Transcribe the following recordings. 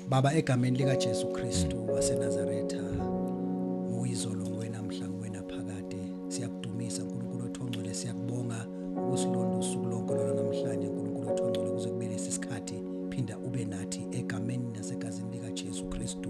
Baba egameni lika Jesu Kristu waseNazaretha uyizolo ngwenamhla ngwenaphakade siyakudumisa uNkulunkulu othongcwele siyakubonga ukusilonda usuku lonke lona namhlanje uNkulunkulu othongcwele kuze kube lesi sikhathi phinda ube nathi egameni nasegazini lika Jesu Kristu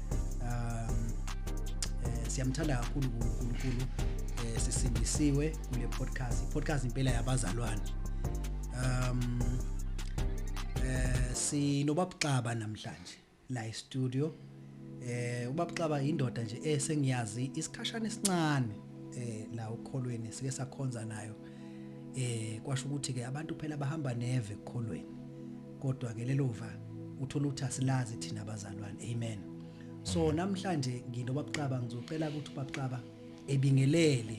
um eh, siyamthanda kakhulu uNkulunkulu eh, sisindisiwe kule podcast i-podcast impela yabazalwane um eh sinobabxaba namhlanje la e-studio eh ubabxaba indoda nje esengiyazi isikhashana esincane eh la ukholweni sike sakhonza nayo eh kwasho ukuthi ke abantu phela bahamba neve ekukholweni kodwa ke lelova uthola ukuthi asilazi thina abazalwane amen so namhlanje nginobabuxaba ngizocela ukuthi ubabuxaba ebingelele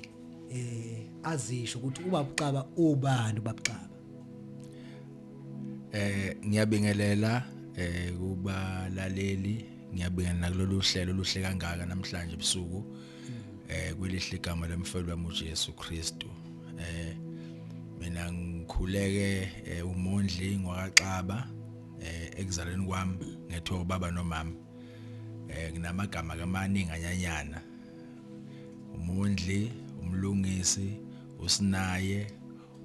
eh azisho ukuthi ubabuxaba ubani ubabuxaba eh ngiyabingelela eh kubalaleli ngiyabingelela kulolu hlelo oluhle kangaka namhlanje ebusuku eh kwelihle igama lomfelo wami uJesu Kristu eh mina ngikhuleke eh, umondli ngwakaxaba eh ekuzalweni kwami ngethiwa ubaba nomama eh nginamagama kamaningi anyanyana umondli umlungisi usinaye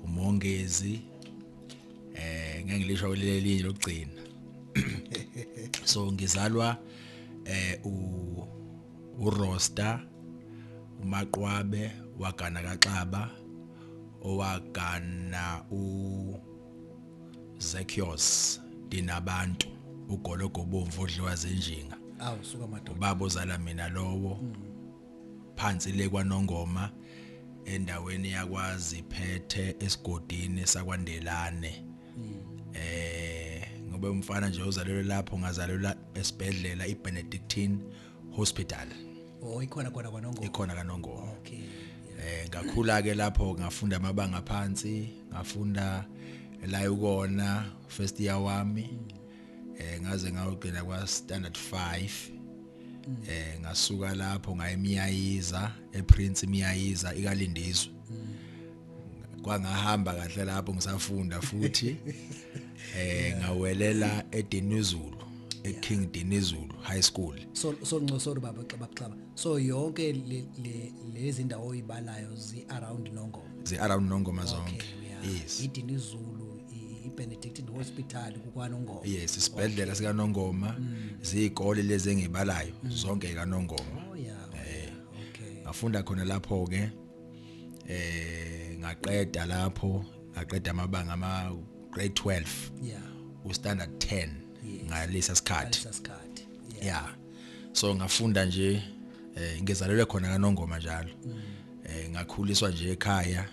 umongezi eh ngeke ngilisho lelinye lokugcina so ngizalwa eh u uRosta, uMaqwabe wagana kaXaba owagana uZekios Dinabantu ugologo obomvu odliwa zinjinga awu suka madoda ubaba ozala mina lowo mm. phansi le kwanongoma endaweni yakwazi phethe esigodini sakwandelane eh ngoba umfana nje uzalelwe lapho ngazalelwa esibhedlela iBenedictine Hospital oh ikhona khona kwaNongo ikhona kaNongo okay eh ngakhula ke lapho ngafunda amabanga phansi ngafunda la ukona first year wami eh ngaze ngawugcina kwa standard 5 eh ngasuka lapho ngayemiyayiza ePrince imiyayiza ikalindizwe kwangahamba kahle lapho ngisafunda futhi eh ngawelela eDinizulu eKing Dinizulu High School so so nco sorry baba xaba xaba so yonke le lezi ndawo oyibalayo zi around Nongoma zi around Nongoma zonke yes iDinizulu iBenedictine Hospital kukwanongoma yes isibhedlela sika Nongoma mm. zikole lezi engibalayo mm. zonke ka Nongoma oh yeah eh. okay ngafunda khona lapho ke eh ngaqeda lapho ngaqeda amabanga ama grade 12 yeah u standard 10 ngalesa sikhathi ngalesa sikhathi yeah yeah so ngafunda nje eh ngizalelwe khona kanongoma njalo mm. eh ngakhuliswa nje ekhaya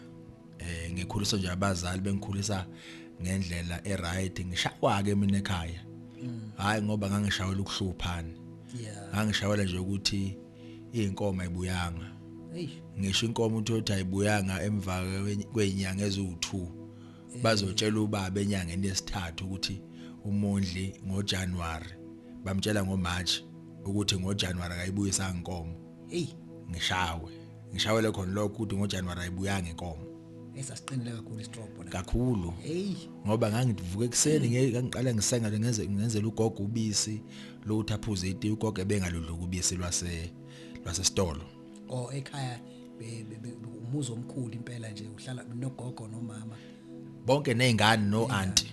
eh ngikhuliswa nje abazali bengikhulisa ngendlela eright ngishawa ke mina ekhaya mm. hayi ngoba ngangishawela ukuhluphana yeah ngangishawela nje ukuthi Inkomo ayibuyanga. Hey. Ngisho inkomo uthi uthi ayibuyanga emva kwezinyanga eziwu2. Bazotshela ubaba enyangeni yesithathu ukuthi umondli ngoJanuary bamtshela ngoMarch ukuthi ngoJanuary akayibuyisa inkomo. Hey, ngishawe. Ngishawele khona lokho ukuthi ngoJanuary ayibuyanga inkomo. esasiqinile kakhulu istrobo la kakhulu hey ngoba ngangivuka ekseni ngiqala ngisenga ngenze ngenzela ugogo ubisi lutho aphuze iti ugogo ebengaludluka ubisi lwase lwasesitolo o ekhaya umuzi omkhulu impela nje uhlala nogogo nomama bonke nezingane no auntie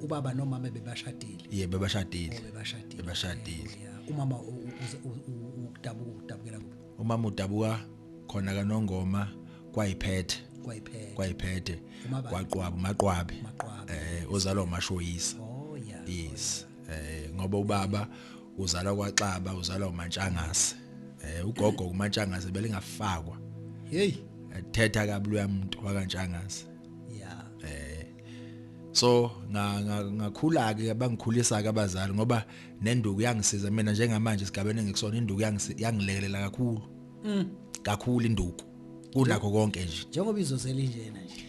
ubaba nomama bebashadile ye bebashadile oh, bebashadile bebashadile umama udabuka udabukela kuphi umama udabuka khona kanongoma kwayiphethe kwayiphethe kwayiphethe kwaqwaba maqwabe eh uzalwa umashoyisa oh yeah yes eh ngoba ubaba uzalwa kwaXaba uzalwa uMantshangase eh ugogo uMantshangase belingafakwa hey ethetha kabi loyamuntu wakantshangase yeah eh so ngakhula ke bangikhulisa ke abazali ngoba nenduku yangisiza mina njengamanje sigabene ngikusona induku yangilekelela kakhulu mm. kakhulu induku kunakho konke nje njengoba izozela injena nje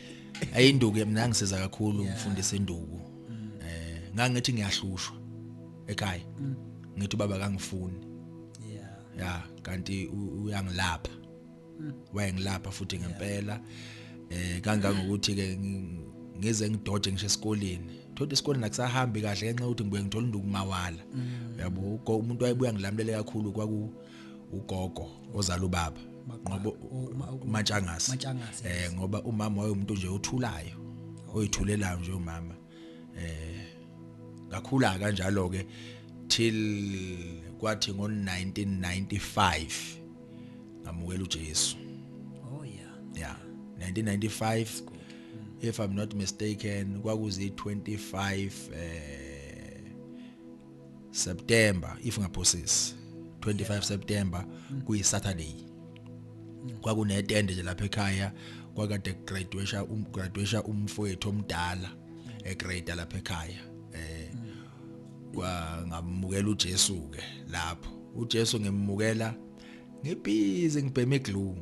ayinduku mina ngisiza kakhulu ngifundisa induku mm. eh ngangithi ngiyahlushwa ekhaya mm. ngithi baba kangifuni yeah ya kanti uyangilapha mm. wayengilapha futhi ngempela eh kangangokuthi ke ngize ngidoje ngisho esikoleni thothi esikoleni akusahambi kahle ngenxa ukuthi ngibuye ngithola induku mawala uyabo umuntu wayebuya ngilamulela kakhulu kwaku ugogo ozala ubaba ngoba umatshangasi eh ngoba umama wayemuntu nje othulayo oyithulelayo nje umama eh ngakhula kanjalo ke till kwathi ngo 1995 ngamukela uJesu oh yeah yeah 1995 if i'm not mistaken kwakuzi 25 eh September if ngaphosisi 25 September kuyi Saturday kwakune tende nje lapha ekhaya kwakade graduation um graduation umfowethu omdala e grade lapha ekhaya eh kwa ngamukela uJesu ke lapho uJesu ngimukela ngibhizi ngibheme glue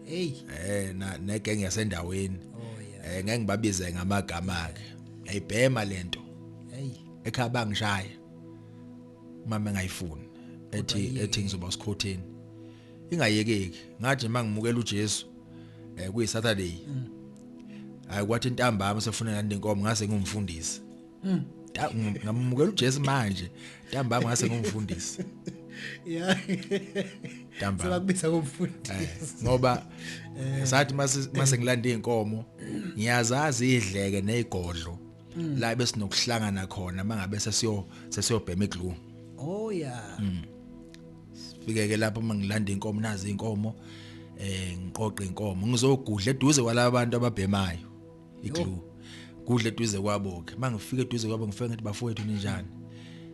hey eh na negenge yasendaweni oh yeah eh ngeke ngibabize ngamagama ke ayibhema lento hey ekhaya bangishaya mama engayifuni ethi ethi ngizoba sikhotheni ingayekeki ngathi mangimukela uJesu eh kuyi Saturday mm. hayi kwathi intambama sefuna ngani inkomo ngase ngumfundisi mm. ngamukela uJesu manje intambama ngase ngumfundisi yeah damba sebakubisa komfundisi eh, ngoba eh. sathi mase ngilanda inkomo ngiyazazi idleke nezigodlo mm. la besinokuhlangana khona mangabe sesiyo sesiyobhema iglue oh yeah mm. sifike ke lapho mangilanda inkomo nazi inkomo eh ngiqoqe inkomo ngizogudla eduze kwalabo bantu ababhemayo iglue kudla eduze kwabo ke mangifike eduze kwabo ngifike ngathi bafowethu ninjani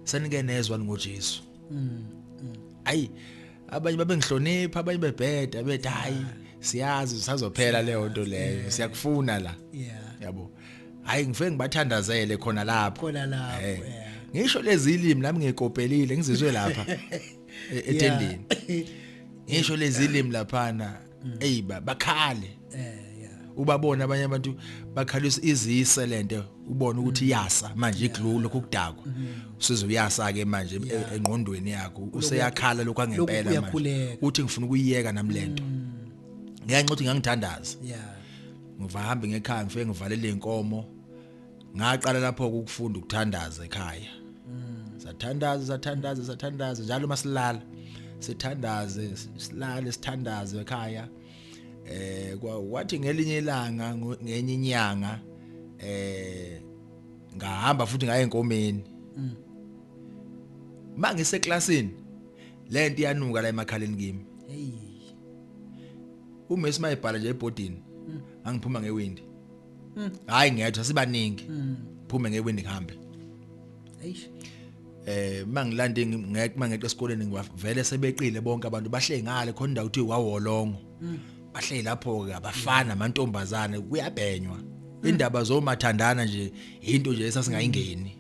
senike nezwa ngoJesu mm, mm. ayi abanye babengihlonipha abanye bebheda bethi hayi siyazi sisazophela leyo nto leyo siyakufuna la yabo hayi ngifike ngibathandazele khona lapho khona lapho eh. ngisho lezi ilimi nami ngikopelile ngizizwe lapha e, etendeni ngisho lezi ilimi laphana mm. eyi bakhale eh, ubabona abanye abantu bakhalisa izise lento ubona ukuthi mm. yasa manje iglulo kokudakwa mm. usizo uyasa ke manje e, engqondweni yakho useyakhala lokho angempela manje uthi ngifuna ukuyiyeka nami lento ngiyanxa ukuthi ngangithandaza yeah ngivahambe ngekhaya ngifike ngivalele inkomo ngaqala lapho ukufunda ukuthandaza ekhaya sathandaza sathandaza sathandaza njalo masilala sithandaze silale sithandaze ekhaya eh kwathi ngelinye ilanga ngenye inyanga eh ngahamba futhi ngaye enkomeni mm. mangise classini lento iyanuka la emakhaleni kimi hey uMessi mayebhala nje ebhodini mm. angiphuma ngewindi mm. hayi ngethwa sibaningi mm. phume ngewindi ngihambe eish eh mangilande ngeke mangeqe esikoleni ngivele sebeqile bonke abantu bahleli ngale khona indawo uthi wawolongo bahleli lapho ke abafana amantombazane kuyabhenywa indaba zomathandana nje into nje esasingayingeni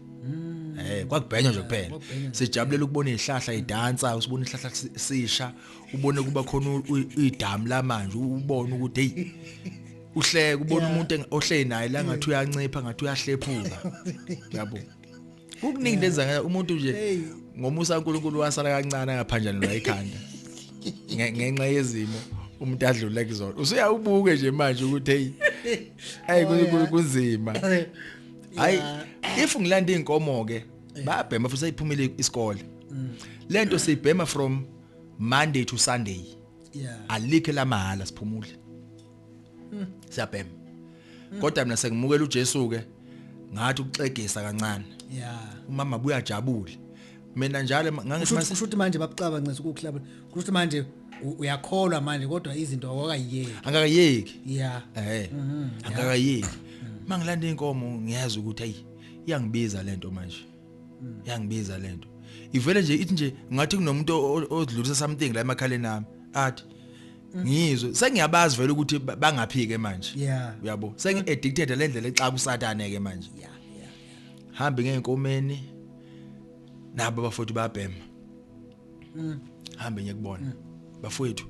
eh kwakubhenywa nje kuphela sijabulela ukubona izihlahla idansa usibona izihlahla sisha ubone kuba khona idamu la manje ubone ukuthi hey uhleke ubona umuntu ohleli naye la ngathi uyancipha ngathi uyahlephuka yabo kukuningi lenza umuntu nje ngomusa uNkulunkulu wasala kancane ngaphanjanelwa ikhanda ngenxa yezimo umuntu adlule kuzona usuyawubuke nje manje ukuthi hey hey oh, kunzima hayi if ngilanda inkomo ke babhema futhi ayiphumile isikole mm. lento siyibhema from Monday to Sunday yeah alike la mahala siphumule hmm. siyabhema hmm. kodwa mina sengimukela uJesu ke ngathi ukuxegisa kancane yeah umama buyajabule mina njalo ngangisho ukuthi manje babucaba ncinza ukuklaba ukuthi manje uyakholwa manje kodwa izinto awakayeki angakayeki yeah eh mhm, angakayeki mangilanda inkomo ngiyazi ukuthi ayi iyangibiza lento manje yangibiza lento ivele nje ithi nje ngathi kunomuntu odlulisa something la emakhaleni nami athi ngizwe sengiyabazi vele ukuthi bangaphike manje uyabo sengi addicted le ndlela exa kusatane ke manje hambe ngeenkomeni nabo bafoti babhema mm. hambe ngiyakubona mm. bafowethu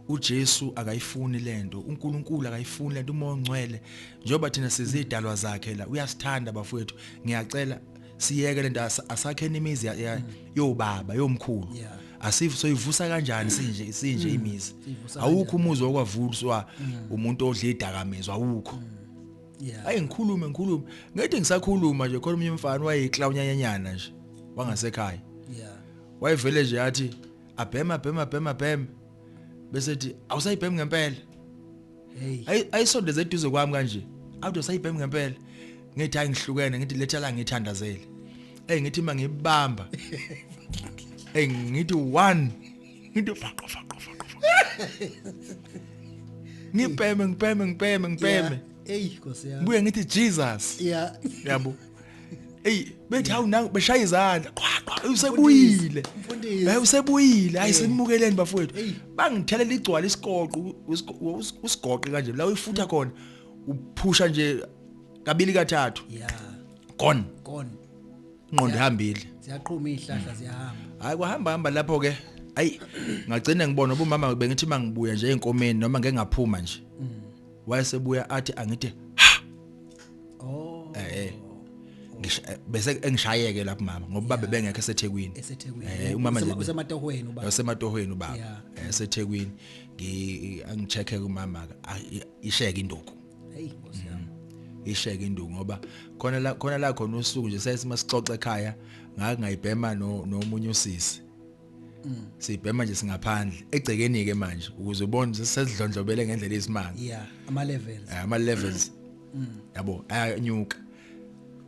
uJesu akayifuni lento uNkulunkulu akayifuni lento umoya ongcwele njengoba thina sizidalwa mm. zakhe la uyasithanda bafowethu ngiyacela siyeke lento asakheni imizi mm. yobaba yomkhulu yeah asifu soyivusa kanjani sinje isinje mm. imizi awukho umuzi okwavuswa mm. umuntu odla idakamizwa awukho mm. yeah. ayi ngikhulume ngikhulume ngithi ngisakhuluma nje khona umunye umfana wayeyiklawunyanyanyana nje wangasekhaya yeah wayevele nje athi abhema bhema bhema bhema bese ethi awusayibhemi ngempela hey ayisondeze eduze kwami kanje awuthi usayibhemi ngempela ngithi hayi ngihlukene ngithi letha la ngithandazele hey ngithi mangibamba hey ngithi one into faqo faqo faqo ngibheme ngibheme ngibheme ngibheme eyi nkosi yami buye ngithi Jesus yeah yabo Ey bethi hawu nangu beshaya izandla qwa qwa usebuyile hayi usebuyile hayi senimukeleni bafowethu bangithela ligcwala isigoqo usigoqe kanje la uyifutha khona uphusha nje kabili kathathu yeah gone gone ingqondo ihambile ziyaqhuma izihlahla ziyahamba hayi kuhamba hamba lapho ke ayi ngagcina ngibona ubumama bengithi mangibuya nje enkomeni noma ngeke ngaphuma nje mm. wayesebuya athi angithi oh eh, eh. Eh, bese engishayeke lapho mama ngoba babe bengekho eseThekwini eseThekwini eh umama nje usematohweni ubaba usematohweni ubaba eh, eseThekwini ngi angichecke kumama isheke induku hey nkosi yami mm. isheke induku ngoba khona la khona la khona usuku nje sesima sixoxe ekhaya ngakungayibhema no nomunye usisi mm. sibhema nje singaphandle egcekeni ke manje ukuze ubone sesidlondlobele ngendlela isimanga yeah ama levels eh, ama levels mm. yabo ayanyuka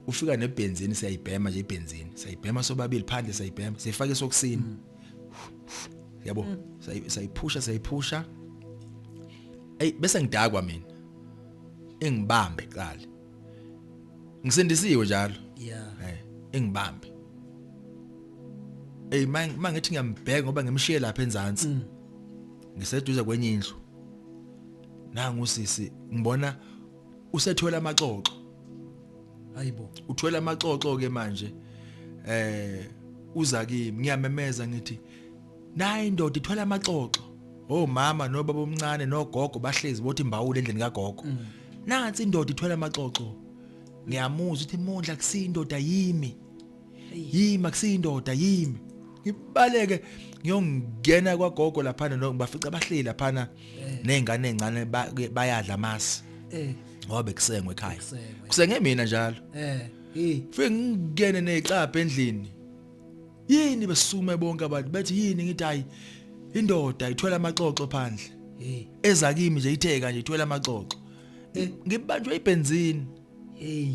ufika nebenzini siyayibhema nje ibenzini siyayibhema sobabili phandle siyayibhema sifake sokusini yabo mm. sayiphusha sayiphusha ey bese ngidakwa mina engibambe qala ngisindisiwe njalo yeah eh engibambe ey mangithi ngiyambheka ngoba ngimshiye lapha enzansi mm. ngiseduze kwenye indlu nangu sisi ngibona usethwele amaxoxo hayibo uthwele amaxoxo ke manje eh uza kimi ngiyamemeza ngithi nayi indoda ithwele amaxoxo oh mama nobaba omncane nogogo bahlezi bothi imbawule endlini kagogo mm. nansi indoda ithwele amaxoxo ngiyamuzwa ukuthi mondla kusindoda yimi yimi makusiyindoda yimi ngibaleke ngiyongena kwagogo lapha nobafica bahleli lapha eh. nezingane ezincane bayadla masi eh. ngoba bekusengwe ekhaya kusenge mina njalo eh fike ngingene necapha endlini yini besume bonke abantu bethi yini ngithi hayi indoda ithwela amaxoxo phandle eza kimi nje itheka nje ithwela amaxoxo eh. ngibanjwe ibenzini hey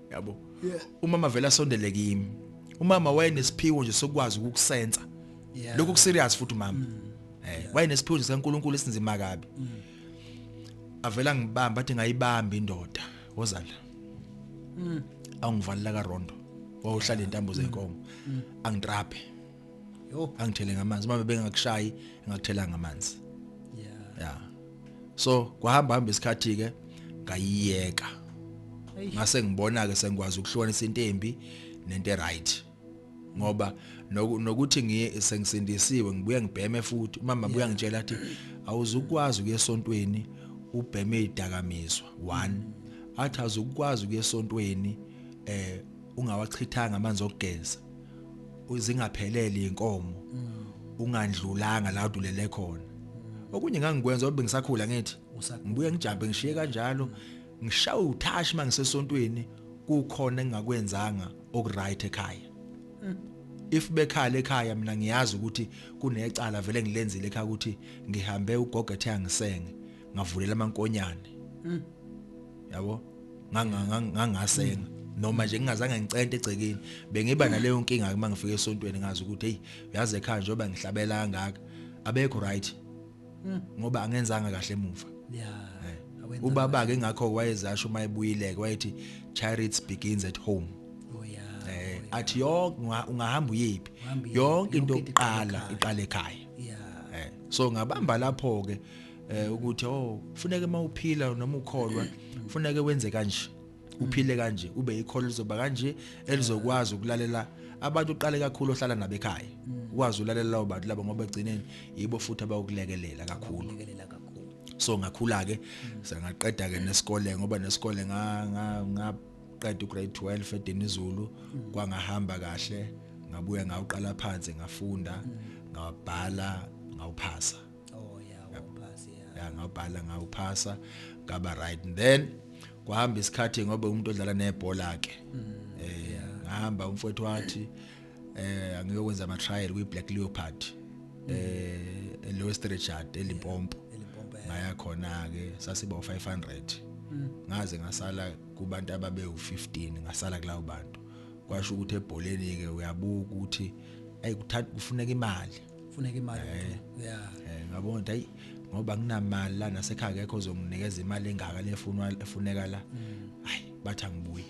yabo yeah. umama vele asondele kimi umama wayenesiphiwo nje sokwazi ukukusensa yeah. lokho kuserious futhi umama mm. eh yeah. wayenesiphiwo nje sikaNkuluNkulu esinzima kabi mm. avela ngibamba athi ngayibamba indoda wozala mm. awungivalela ka rondo wawuhlala intambo zenkomo mm. mm. angitrape yo angithele ngamanzi uma bebengakushayi ngakuthela ngamanzi yeah yeah so kwahamba hamba isikhathi ke ngayiyeka ngase ngibona ke sengikwazi ukuhlukanisa into embi nento right ngoba nokuthi ngiye sengisindisiwe ngibuye ngibheme futhi umama yeah. buya ngitshela athi awuzukwazi ukuya esontweni ubheme idakamizwa one athi azukwazi ukuya esontweni eh ungawachithanga amanzi okugeza uzingaphelele inkomo ungandlulanga la udulele khona okunye ngangikwenza obe ngisakhula ngithi ngibuye ngijambe ngishiye kanjalo ngishawe uthashi mangisesontweni kukhona engingakwenzanga okuright ekhaya if bekhala ekhaya mina ngiyazi ukuthi kunecala vele ngilenzile ekhaya ukuthi ngihambe ugogo ethe angisenge ngavulela amankonyane yabo ngangasenga noma nje ngingazange ngicente egcekeni bengiba naleyo nkinga uma ngifika esontweni ngazi ukuthi hey uyazi ekhaya njengoba ngihlabela kangaka abekho right hmm. ngoba angenzanga kahle emuva yeah eh. ubaba ke ngakho wayezasho uma ebuyile wayethi charity begins at home oh yeah eh oh, athi yonke ungahamba uyiphi yonke into oqala iqale ekhaya yeah eh. so ngabamba lapho ke eh ukuthi oh kufuneka uma uphila noma ukholwa kufuneka wenze kanje uphile kanje ube ikholo lizoba kanje elizokwazi ukulalela abantu uqale kakhulu ohlala nabo ekhaya ukwazi ulalela labo bantu labo ngoba egcineni yibo futhi abakulekelela kakhulu so ngakhula ke sengaqeda ke nesikole ngoba nesikole nga nga ngaqeda ugrade 12 eDinizulu kwangahamba kahle ngabuya ngawuqala phansi ngafunda ngawabhala ngawuphasa oh yeah waphasa yeah ngabhala ngawuphasa ngaba right and then kwahamba isikhathi ngoba umuntu odlala nebhola ke mm, eh ngahamba umfowethu wathi eh angiyokwenza ama trial kwi Black Leopard mm. eh eLowest Richard eLimpompo ngaya khona ke sasiba 500 mm. ngaze ngasala kubantu ababe u15 ngasala kulawo bantu kwasho ukuthi ebholeni ke uyabuka ukuthi ayikuthanda kufuneka imali funeka imali eh. yeah eh, ngabona ukuthi hayi ngoba nginamali la nasekhaya kekho ozonginikeza imali engaka lefunwa efuneka la mm. hayi bathi angibuyi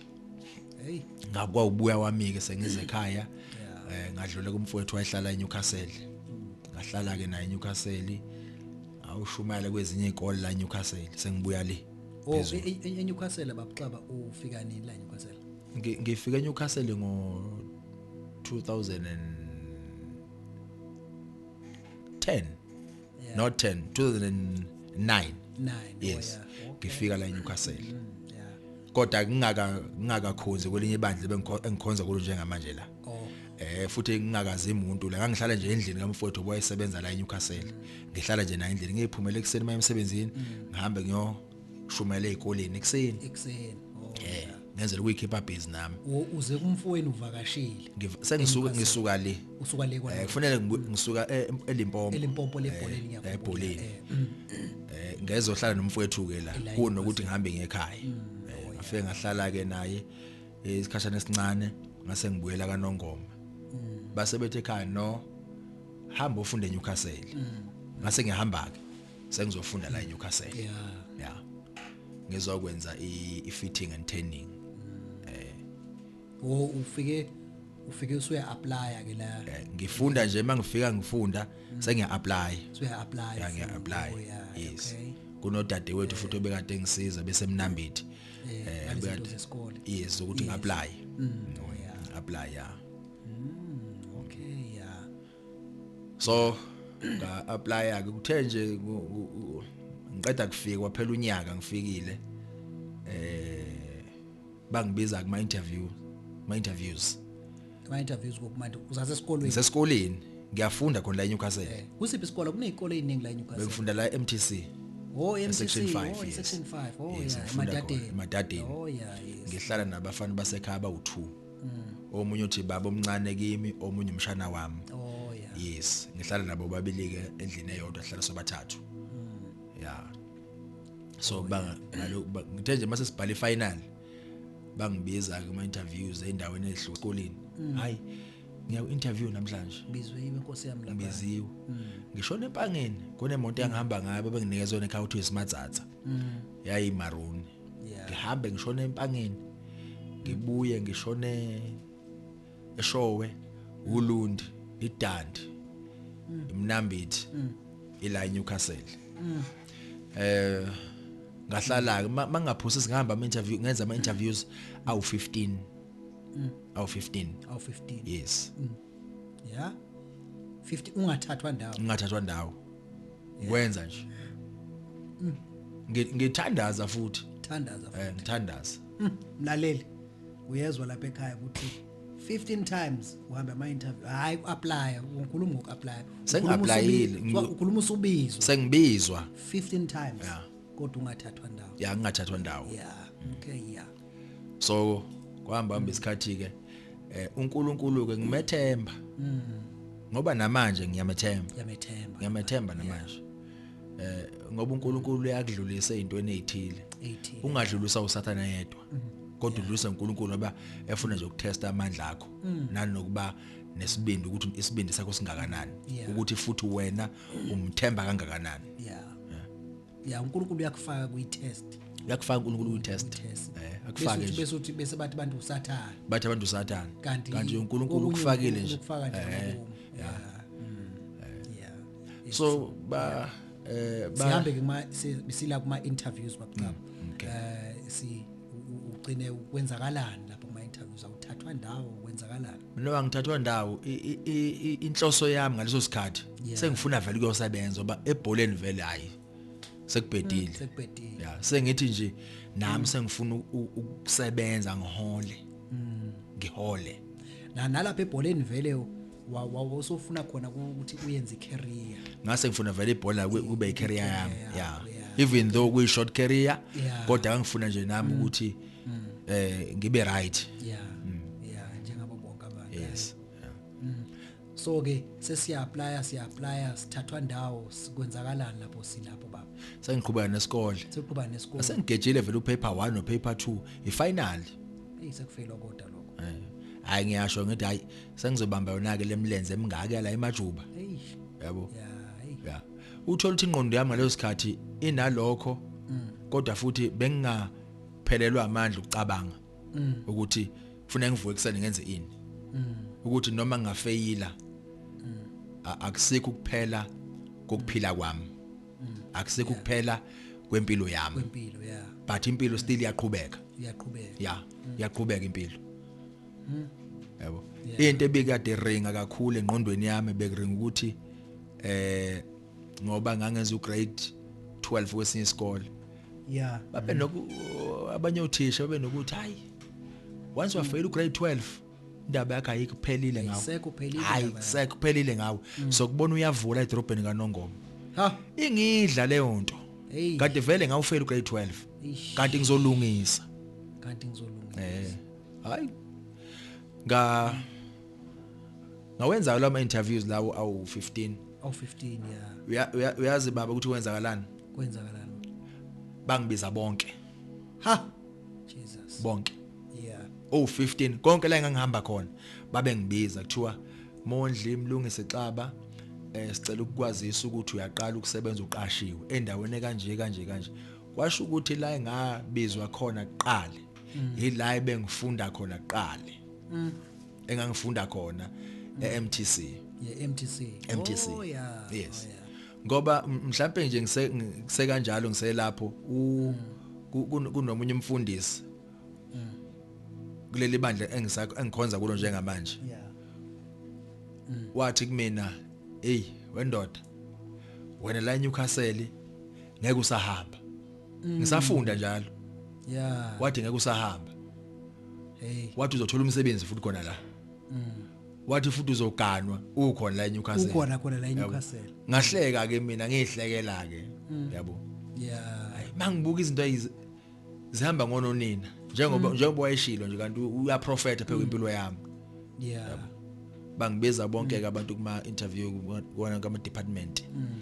hey ngakwa ubuya wami ke sengize ekhaya eh ngadlule kumfowethu wayehlala eNewcastle mm. ngahlala ke naye eNewcastle awushumayela kwezinye izikole la eNewcastle sengibuya le oh e- e- e- eNewcastle babuxaba ufika nini la eNewcastle ngifika eNewcastle ngo 2010 yeah. not 10 2009 yes ngifika la eNewcastle mm, kodwa kungaka ngingakakhonzi kwelinye ibandla bengikhonza kulo njengamanje la oh. eh futhi ngingakazi umuntu la ngangihlala nje endlini kamfowethu owayesebenza la eNewcastle ngihlala nje naye endlini ngiphumela ekuseni mayemsebenzini mm. ngihambe ngiyo shumela ezikoleni ekseni ekseni oh, eh ngenzela ukuyikhipha busy nami uze kumfowenu uvakashile sengisuka ngisuka le usuka le kwa eh kufanele ngisuka eh, elimpompo elimpompo lebholeni eh, ngiyabona ebholeni eh, mm. eh ngezohlala nomfowethu ke la kunokuthi ngihambe ngekhaya mm. oh, ngafike ngahlala ke naye isikhashana esincane ngase ngibuyela kanongoma mm. base bethe ekhaya no hamba ufunde eNewcastle ngase ngihamba ke sengizofunda la eNewcastle yeah yeah ngizokwenza i-fitting and turning eh wo ufike ufike usuya apply ke la eh, ngifunda nje mangifika ngifunda mm. sengiya apply usuya apply yeah ngiya apply oh, yes kunodade wethu futhi obekade ngisiza bese mnambithi eh, eh bekade yes ukuthi ngi apply mm. oh yeah apply yeah so nga applya ke kuthe nje ngiqeda kufika kwaphela unyaka ngifikile eh bangibiza kuma interview ma interviews kuma interviews kokumanje uzaze esikolweni sesikoleni ngiyafunda khona la eNewcastle eh, kusiphi isikole kunezikole eziningi la eNewcastle bengifunda la eMTC Oh MTC section 5 oh, yes. section 5 oh yes, yeah emadadeni emadadeni oh yeah yes. ngihlala nabafana basekhaya bawu2 omunye uthi baba omncane kimi omunye umshana wami oh yeah yes ngihlala nabo babili ke endlini eyodwa sihlala sobathathu mm. yeah so oh, banga ngaloku ngithe nje mase sibhala ifinal bangibiza ke ama interviews endaweni ezihlukile mm. hayi ngiya ku interview namhlanje ngizwe yimi inkosi yami lapha ngiziwe mm. ngishona empangeni kunemoto engihamba ngayo benginikezwe nekhawuthi smart zatha yayi maroon ngihambe ngishone empangeni ngibuye ngishone eshowe ulundi idandi mm. imnambithi mm. ila Newcastle mm. eh ngahlala ke mangaphusi singihamba ama interview ngenza ama interviews awu 15 awu 15 awu 15 yes ya 50 ungathathwa ndawo ngingathathwa ndawo ngikwenza nje Mm. Ngi- ngithandaza futhi thandaza eh ngithandaza Mm, mlaleli uyezwa lapha ekhaya ukuthi 15 times uhamba ama interview hayi uapply ungikhuluma ngokuapply Sengi-applyile. Ngi- ukhuluma usubizwa sengibizwa 15 times Yeah. kodwa ungathathwa ndawo ya ngingathathwa ndawo yeah okay yeah so kwahamba hamba isikhathi ke eh uNkulunkulu ke ngimethemba mm. ngoba namanje ngiyamethemba ngiyamethemba ngiyamethemba namanje eh ngoba uNkulunkulu uyakudlulisa ezintweni ezithile ungadlulisa usathana yedwa mm. kodwa udlulisa uNkulunkulu ngoba efuna nje ukutesta amandla akho mm. nanokuba nesibindi ukuthi isibindi sakho singakanani ukuthi futhi wena umthemba kangakanani yeah ya uNkulunkulu uyakufaka kwi test uyakufaka uNkulunkulu kwi test eh akufake nje bese uthi bese bathi abantu usathana bathi abantu usathana kanti kanti uNkulunkulu ukufakile nje ukufaka nje eh, ya hmm. so ba eh sihambe ke kuma sila kuma interviews bakucaba hmm, eh si ugcine ukwenzakalani lapho kuma interviews awuthathwa ndawo kwenzakalani mina ngithathwa ndawo inhloso yami ngaleso sikhathi sengifuna vele kuyosebenza oba ebholeni vele hayi sekubhedile mm, sekubhedile ya sengithi nje nami mm. sengifuna ukusebenza ngihole mm. ngihole na nalapha ebholeni vele wawusofuna khona ukuthi uyenze icareer ngase ngifuna vele ibhola kube icareer yami yeah even though kuyi short career kodwa ngifuna nje nami ukuthi mm. mm. eh ngibe right yeah mm. yeah njengabo bonke abantu yes yeah. mm. so ke sesiya apply siya apply sithathwa ndawo sikwenzakalani lapho silapho baba sengiqhubeka nesikole siqhubeka nesikole asengigejile vele upaper 1 no paper 2 ifinal hey sekufela kodwa lokho eh hayi ngiyasho ngithi hayi sengizobamba yona ke lemlenze emingaka la emajuba yabo yeah uthola ukuthi ingqondo yami ngaleso sikhathi inalokho kodwa futhi benginga phelelwa amandla ukucabanga mm. ukuthi kufanele ngivuke ekseni ngenze ini mm. ukuthi noma ngafeyila mm. akusikho kuphela kokuphila kwami mm. akusikho yeah. kuphela kwempilo yami kwempilo yeah but impilo still iyaqhubeka iyaqhubeka yeah mm. iyaqhubeka impilo mm. yabo into ebikade ringa kakhulu engqondweni yami bekuringa ukuthi eh ngoba ngangenza ugrade 12 kwesinye isikole yeah babe noku abanye othisha babe nokuthi hayi once wafeyila ugrade 12 indaba yakhe ayikho phelile ngawo sekuphelile hayi sekuphelile ngawo mm. so kubona uyavula edrobheni kanongoma ha ingidla leyo nto kade vele ngawufela ugrade 12 kanti ngizolungisa kanti ngizolungisa eh hayi nga ngawenzayo lawo ma-interviews lawo awu-15 awu-15 ya uyazi baba ukuthi kwenzakalani kwenzakalani bangibiza bonke ha jesus bonke yeah owu-15 konke la engangihamba khona babe ngibiza kuthiwa mondli mlungise xaba eh sicela ukukwazisa ukuthi uyaqala ukusebenza uqashiwe endaweni kanje kanje kanje kwasho ukuthi la engabizwa khona kuqala mm. yila ebengifunda khona kuqale mm. engangifunda khona mm. eMTC yeMTC MTC oh yeah yes oh, yeah. ngoba mhlambe nje ngise ngise kanjalo ngiselapho u mm. kunomunye umfundisi mm. kuleli bandla engisakho engikhonza kulo njengamanje yeah mm. wathi kumina hey wendoda wena la eNewcastle ngeke usahamba Mm. Ngisafunda njalo. Yeah. Wathi ngeke usahamba. Hey. Wathi uzothola umsebenzi futhi khona la. Mm. Wathi futhi uzoganwa ukhona la eNewcastle. Ukhona khona la eNewcastle. Ngahleka ke mina ngihlekela ke. Mm. Yabo. Yeah. Mangibuka izinto zihamba ngononina njengoba mm. njengoba wayeshilo nje kanti uyaprofeta phela impilo yami. Yeah. Bangibiza bonke ke abantu kuma interview kona kama department. Mm.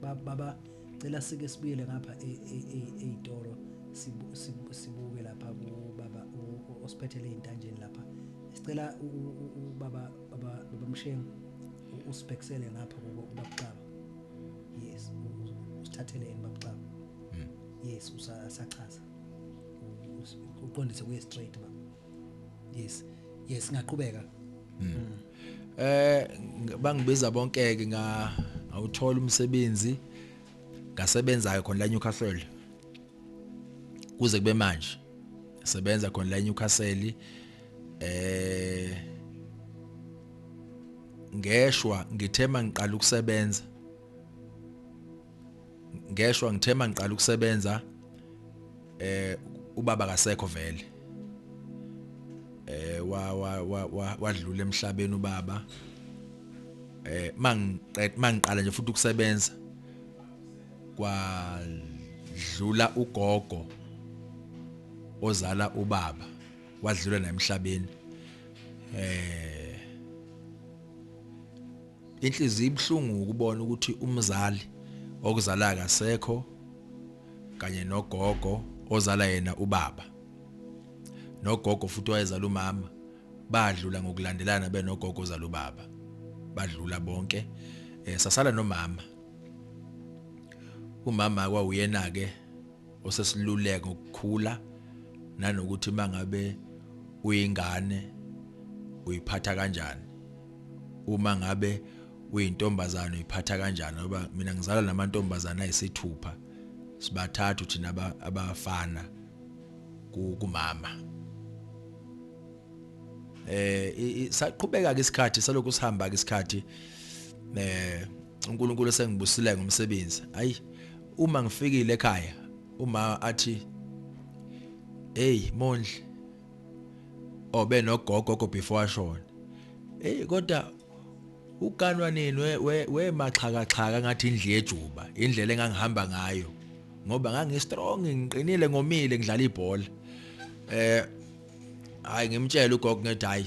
baba cela sike sibuyele ngapha eyitoro e, e, sibuke lapha kubaba osiphethele intanjeni lapha sicela ubaba baba baba mshengu usibhekisele ngapha kubakuxaba yes usithathele yena bakuxaba hmm. yes usachaza uqondise kuye straight baba yes yes ngaqhubeka hmm. eh bangibiza bonke ke nga awuthola umsebenzi ngasebenzayo khona la Newcastle kuze kube manje sebenza khona la Newcastle eh ngeshwa ngithema ngiqala ukusebenza ngeshwa ngithe mangiqala ukusebenza eh ubaba kasekho vele eh wa wa wadlula emhlabeni ubaba eh mangiqed mangiqala nje futhi ukusebenza kwadlula ugogo ozala ubaba wadlula naye emhlabeni eh Inhliziyo ibuhlungu ukubona ukuthi umzali okuzalayo akasekho kanye nogogo ozala yena ubaba nogogo futhi wayezala umama badlula ngokulandelana benogogo ozala ubaba badlula bonke eh, sasala nomama umama kwawuyena ke Usesiluleka ukukhula nanokuthi mangabe uyingane uyiphatha kanjani. Uma ngabe uyintombazane uyiphatha kanjani ngoba mina ngizalwa namantombazane ayisithupha sibathathu thina abafana kumama eh saqhubeka ke isikhathi salokhu sihamba ke isikhathi eh uNkulunkulu sengibusile ngomsebenzi ayi uma ngifikile ekhaya uma athi hey mondli obe nogogo go before ashona hey kodwa uganwa nini we we maxhaka xhaka ngathi indle yejuba indlela engangihamba ngayo ngoba ngangi strong ngiqinile ngomile ngidlala ibhola eh hayi ngimtshela ugogo ngethi hayi